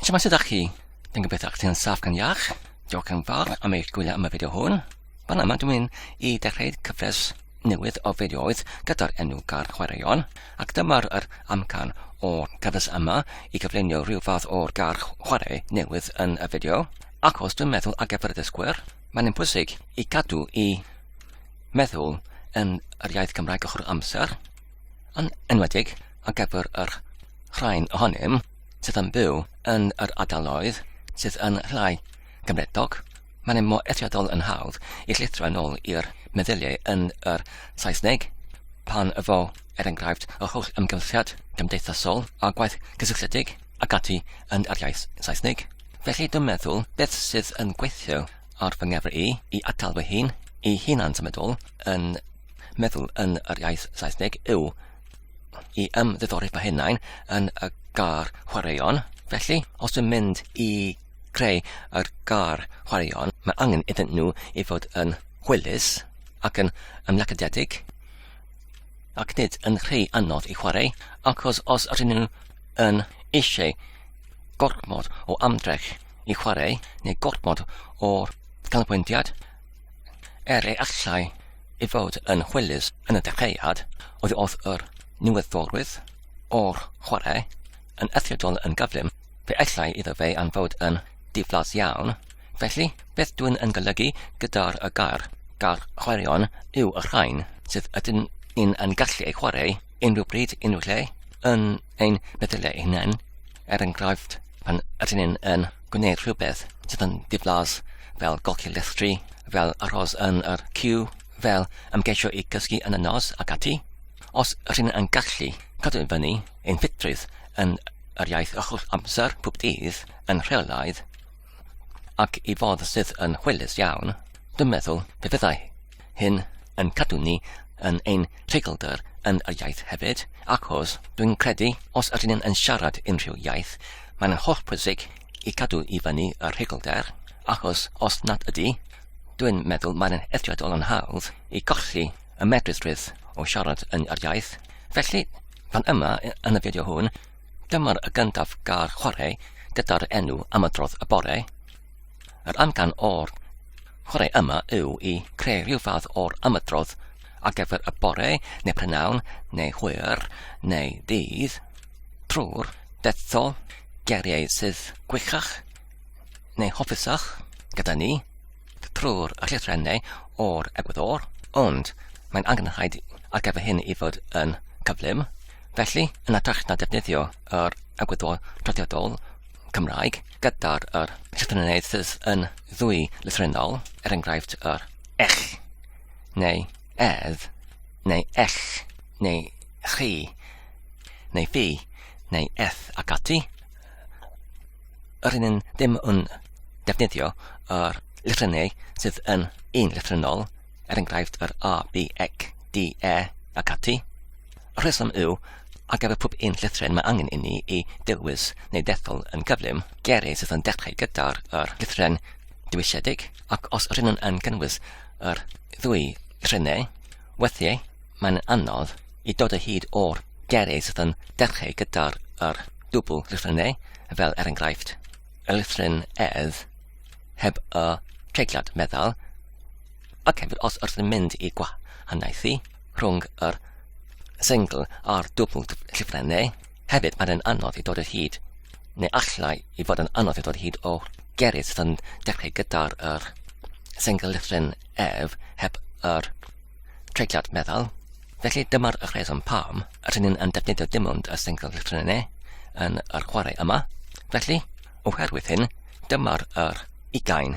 So mae'n sydd â chi? Dwi'n gobeithio chi yn saff gan iach. Diolch yn fawr am eich gwylio am y fideo hwn. Fan yma dwi'n mynd i dechrau cyfres newydd o fideoedd gyda'r enw Gar Chwaraeon, ac dyma'r yr amcan o'r cyfres yma i gyflunio rhyw fath o'r gar chwarae newydd yn y fideo, ac os dwi'n meddwl ar gyfer y dysgwyr, mae'n yn pwysig i gadw i meddwl yn yr iaith Gymraeg ochr amser, yn enwedig ar gyfer yr rhain ohonym sydd yn byw yn yr ardaloedd sydd yn llai gymredog, mae'n mor eithriadol yn hawdd i llithro yn ôl i'r meddyliau yn yr Saesneg pan fo er enghraifft yr holl ymgylchiad gymdeithasol a gwaith cysylltiedig ac ati yn yr iaith Saesneg. Felly dwi'n meddwl beth sydd yn gweithio ar fy ngefr i, i atal fy hun, i hunan symudol yn meddwl yn yr iaith Saesneg yw i ymddiddori fy hunain yn y gar chwaraeon. Felly, os yn mynd i creu yr gar chwaraeon, mae angen iddyn nhw i fod yn hwylus ac yn ymlacadedig, ac nid yn rhy anodd i chwarae, achos os ydyn nhw yn eisiau gormod o ymdrech i chwarae, neu gormod o ganolbwyntiad, Er ei allai ei fod yn hwylus yn y dechreuad, odd yr niweddiolrwydd o'r chwarae yn eithriadol yn gyflym, fe allai iddo fe anfod yn ddiflas iawn, felly beth dwi'n yn golygu gyda'r y gair 'gall' chwaraeon yw y rhain sydd ydyn ni'n yn gallu eu chwarae unrhyw bryd, unrhyw lle, yn ein meddyliau hunain, er enghraifft pan ydyn ni'n yn gwneud rhywbeth sydd yn diflas fel golchi llestri, fel aros yn yr cyw, fel ymgeisio i gysgu yn y nos ac ati. Os ydyn ni'n yn gallu cadw i fyny ein ffitrwydd yn yr iaith ychwch amser pob dydd yn rheolaidd ac i fodd sydd yn hwylus iawn, dwi'n meddwl pe fyddai Hyn yn cadw ni yn ein treiglder yn yr iaith hefyd, achos dwi'n credu os ydyn ni'n yn siarad unrhyw iaith, mae'n holl pwysig i cadw i fyny y rheiglder, achos os nad ydy, dwi'n meddwl mae'n eithriadol yn hawdd i golli y medrusrwydd o siarad yn yr iaith. Felly, fan yma yn y fideo hwn, dyma'r gyntaf gair chwarae gyda'r enw am y drodd y bore. Yr amcan o'r chwarae yma yw i creu rhyw fath o'r ymydrodd ar gyfer y bore neu prynawn neu hwyr neu ddydd trwy'r detho geriau sydd gwychach neu hoffusach gyda ni trwy'r llythrennau o'r egwyddor, ond mae'n angenrhaid ar gyfer hyn i fod yn cyflym, felly yn atrach na defnyddio yr egwyddor traddodiadol Cymraeg gyda'r yr llythrennedd sydd yn ddwy lythrennol, er enghraifft yr ech, neu edd, neu ell, neu chi, neu fi, neu eth ac ati. Yr un yn ddim yn defnyddio yr lythrennau sydd yn un lythrennol, er enghraifft yr a, b, ec, d, e ac ati. rheswm yw, ar gyfer pob un llythryn mae angen inni i dewis neu ddethol yn gyflym geiriau sydd yn dechrau gyda'r yr llythryn dewisiedig ac os rydyn nhw'n yn cynnwys yr ddwy llythrynau, weithiau mae'n anodd i dod o hyd o'r geiriau sydd yn dechrau gyda'r yr dwbl llythrynau, fel er enghraifft, y llythryn edd heb y treigliad meddal, ac hefyd os wrth yn mynd i gwahaniaethu rhwng yr sengl a'r dwbl llyfrau neu hefyd mae'n anodd i dod o hyd neu allai i fod yn anodd i dod o hyd o gerydd sydd yn dechrau gyda'r yr sengl lyfryn ef heb yr treigliad meddal Felly dyma'r rheswm pam rydyn ni'n yn defnyddio dim ond y sengl llythrennau yn yr chwarae yma. Felly, oherwydd hyn, dyma'r yr ugain.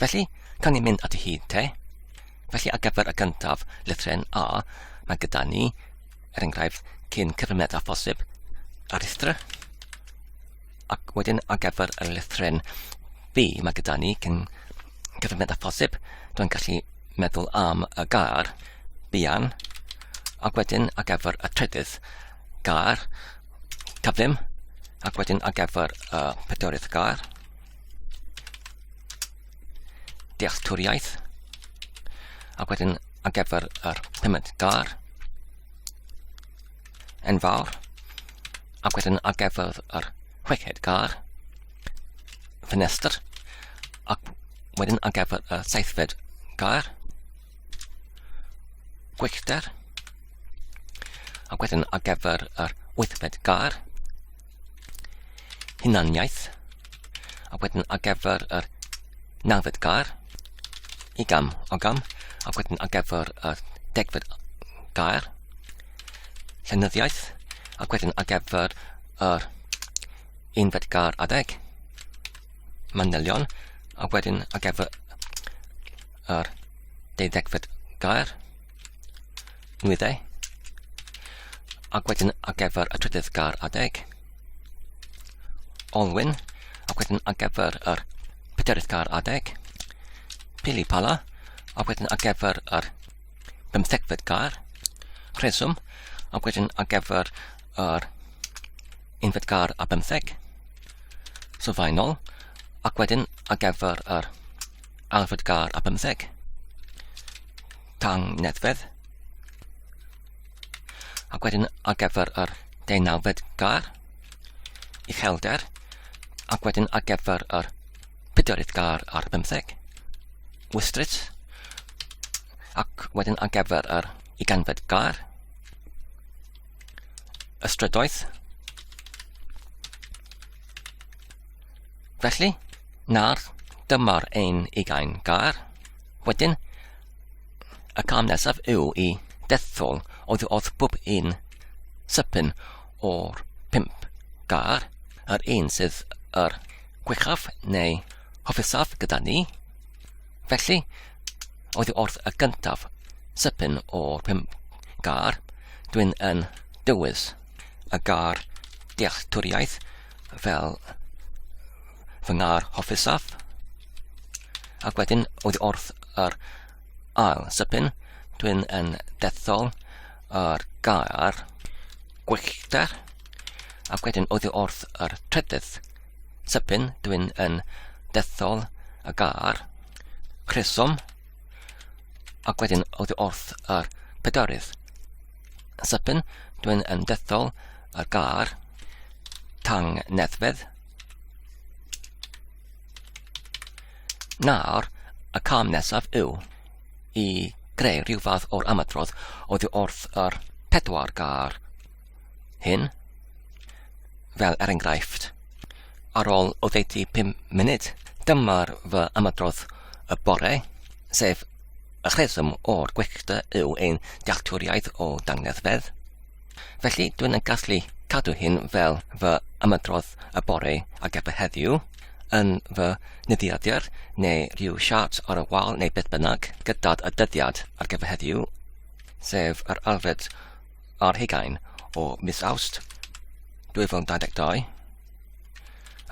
Felly, cawn ni mynd ati hi, te? Felly, ar gyfer y gyntaf, lythren A, mae gyda ni, er enghraifft, cyn cyfrymedd a phosib, ar rhestr. Ac wedyn, ar gyfer y lythren B, mae gyda ni cyn cyfrymedd a phosib. Dwi'n gallu meddwl am y gair, bian, ac wedyn ar gyfer y trydydd gair, cyflym, ac wedyn ar gyfer y pedwerydd gair, dealltwriaeth ac wedyn ar gyfer yr pumed gar yn fawr ac wedyn ar gyfer yr chweched gar ffenestr ac wedyn ar gyfer y seithfed gar gwyllter ac wedyn ar gyfer yr wythfed gar hunaniaeth, a wedyn ar gyfer yr nawfed gair, i gam o gam, a wedyn ar gyfer y degfed gair, llenyddiaeth, a wedyn ar gyfer yr unfed gair adeg, manylion, a wedyn ar gyfer yr deuddegfed gair, nwyddau, ac wedyn ar gyfer y trydydd gar adeg, olwyn, ac wedyn ar gyfer yr pedarydd gar adeg, pili pala, ac wedyn ar gyfer yr bymthegfed gar, rheswm, ac wedyn ar gyfer yr unfed gar a bymtheg, sylfaenol, ac wedyn ar gyfer yr Alfred Gar a bymtheg. Tang Nedfedd. Ac wedyn ar gyfer yr deunawfed gar, uchelder, ac wedyn ar gyfer yr pedwerydd gar ar bymtheg, wystrit, ac wedyn ar gyfer yr uganfed gar, ystrydoedd, Felly, nawr, dyma'r ein ugain gair. Wedyn, y cam nesaf yw i dethol oedd oedd bob un sypyn o'r pimp gair, yr un sydd yr gwechaf neu hofusaf gyda ni. Felly, oedd wrth y gyntaf sypyn o'r pimp gair, dwi'n yn dywys y gair dealltwriaeth fel fy ngar hoffusaf. Ac wedyn, oedd wrth yr ail sypyn, dwi'n yn dethol yr gair gwyllter. Ac wedyn, oedd wrth yr trydydd sypyn, dwi'n yn dethol y gair rheswm. Ac wedyn, oedd wrth yr pedarydd Sipyn, dwi'n yn dethol y gar, tang neddfedd. Nawr, y cam nesaf yw i greu rhyw fath o'r ymadrodd oddi wrth yr pedwar gar hyn, fel er enghraifft. Ar ôl oddeutu 5 munud, dyma'r fy ymadrodd y bore, sef Y rheswm o'r gwecta yw ein dealltwriaeth o dangnefedd. Felly, dwi'n yn gallu cadw hyn fel fy ymedrodd y bore ac efe heddiw, yn fy nyddiadur neu rhyw siart ar y wal neu beth bynnag, gyda'r y dyddiad ar gyfer heddiw, sef yr alfred ar hugain o mis Awst 2022,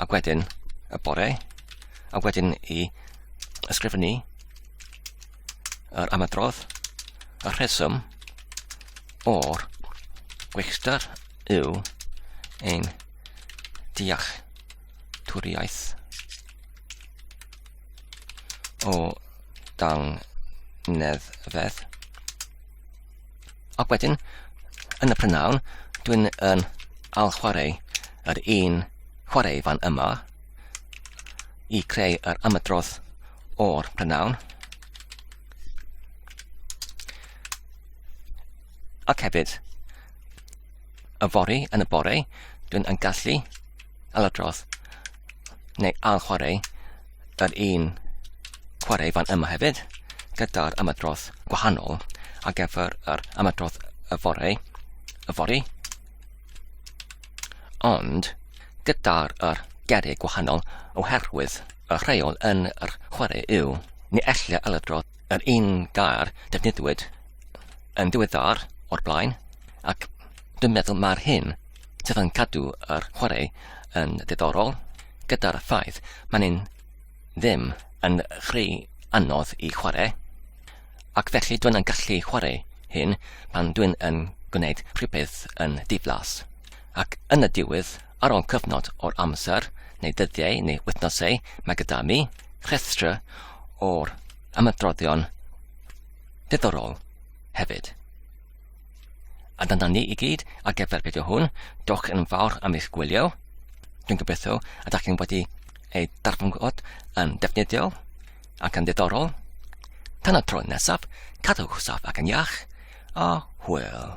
ac wedyn y bore, a wedyn i ysgrifennu yr ymadrodd, y rheswm o'r gweithgar yw ein deall twriaeth o dang neddfedd. Ac wedyn, yn y prynawn, dwi'n yn al chwarae yr un chwarae fan yma, i creu yr ymadrodd o'r prynawn. Ac hefyd, y fori yn y bore, dwi'n yn gallu aladrodd neu al chwarae yr un chwarae fan yma hefyd gyda'r ymadrodd gwahanol a gyfer yr ymadrodd y fore, y fori, Ond, gyda'r yr gerrig gwahanol oherwydd y rheol yn yr chwarae yw, ni ellir aladro yr un gair defnyddiwyd yn ddiweddar o'r blaen, ac dwi'n meddwl mae'r hyn sydd yn cadw yr chwarae yn ddiddorol gyda'r ffaith mae'n ddim yn rhy anodd i chwarae, Ac felly dwin yn gallu chwarae hyn pan dwin yn gwneud rhywbeth yn diflas. Ac yn y diwedd, ar ol cyfnod o'r amser, neu ddyddiau neu wythnosau, mae gyda mi rhestr o'r ymadroddion diddorol hefyd. A dyna ni i gyd ar gyfer fideo hwn. Diolch yn fawr am eich gwylio. Dwi'n gobeithio ydych chi'n wedi ei darfod yn defnyddiol. ac yn ddiddorol. Tan y tro nesaf, cadwch saff ac yn iach, a hwyl.